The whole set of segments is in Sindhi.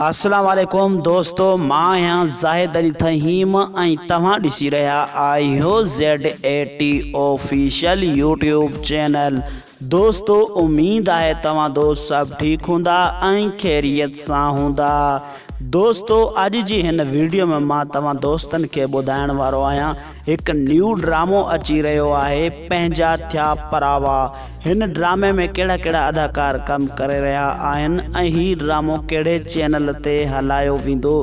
اسلام عليڪم دوستو مان آهيان زاهد علي ٿهيم ۽ توهان ڏسي رهيا آهيو ZATOfficial يوٽيوب چينل دوستو اميد آهي توهان دوست سڀ ٺيڪ هوندا ۽ خيريت سان هوندا دوستو اڄ جي هن ويڊيو ۾ مان توهان دوستن کي ٻڌائڻ وارو آهيان هڪ نيو ڊرامو اچي رهيو آهي پنهنجا ٿيا پراوا هن ڊرامي ۾ ڪهڙا ڪهڙا اداڪار ڪم ڪري رهيا آهن ۽ هي ڊرامو ڪهڙي چينل تي هلايو ويندو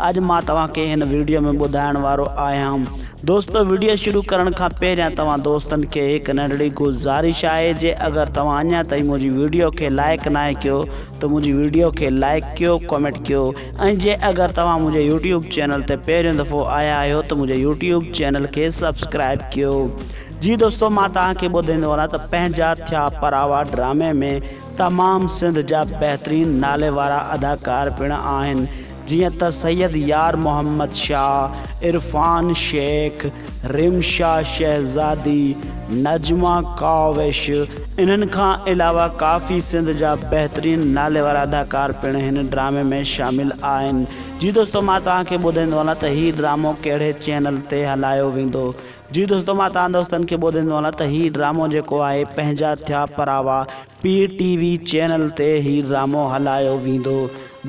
اڄ مان توهان کي هن ويڊيو ۾ ٻڌائڻ وارو آهيان دوستو ويڊيو شروع ڪرڻ کان پهريان توهان دوستن کي هڪ ننڍڙي گذارش آهي جي اگر توهان اڃا تائين منهنجي ويڊيو کي لائڪ ناهي ڪيو ته منهنجي ويڊيو کي لائڪ ڪيو ڪمينٽ ڪيو ۽ جي اگر توهان منهنجي يوٽيوب چينل تي پهريون دفعو آيا آهيو ته منهنجي يوٽيوب چينل کي سبسڪرائيب ڪيو. جي دوستو مان توهان کي ٻڌائيندو هلان ته پنهنجا ٿيا پراوا ڊرامي ۾ تمام سنڌ جا بهترين ناليوارا اداڪار پڻ آهن جيئن ته سيد يار محمد شاهه، عرفان شيخ، رمشا شهزادي، نجمه ڪاوش انهن کان علاوه ڪافي سنڌ جا بهترين ناليوار اداڪار پڻ هن ڊرامي ۾ شامل آهن. جي دوستو مان توهان کي ٻڌائيندو هلان ته هي ڊرامو ڪهڙي چينل تي هلايو ويندو. جي دوستو مان توهان دوستن کي ٻڌائيندو هلان ته هي ڊرامو جيڪو آهي پنهنجا ٿيا پراوا پي ٽي وي چينل تي هي ڊرامو هلايو ويندو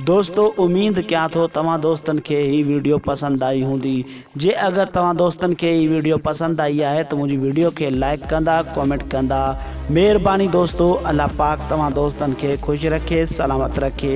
دوستو اميد ڪيان ٿو توهان دوستن کي هي ويڊيو پسند آئي هوندي جي اگر توهان دوستن کي هي ويڊيو پسند آئي آهي ته منهنجي ويڊيو کي لائڪ ڪندا ڪمينٽ ڪندا مهرباني دوستو الله پاڪ توهان دوستن کي خوش رکي سلامت رکي.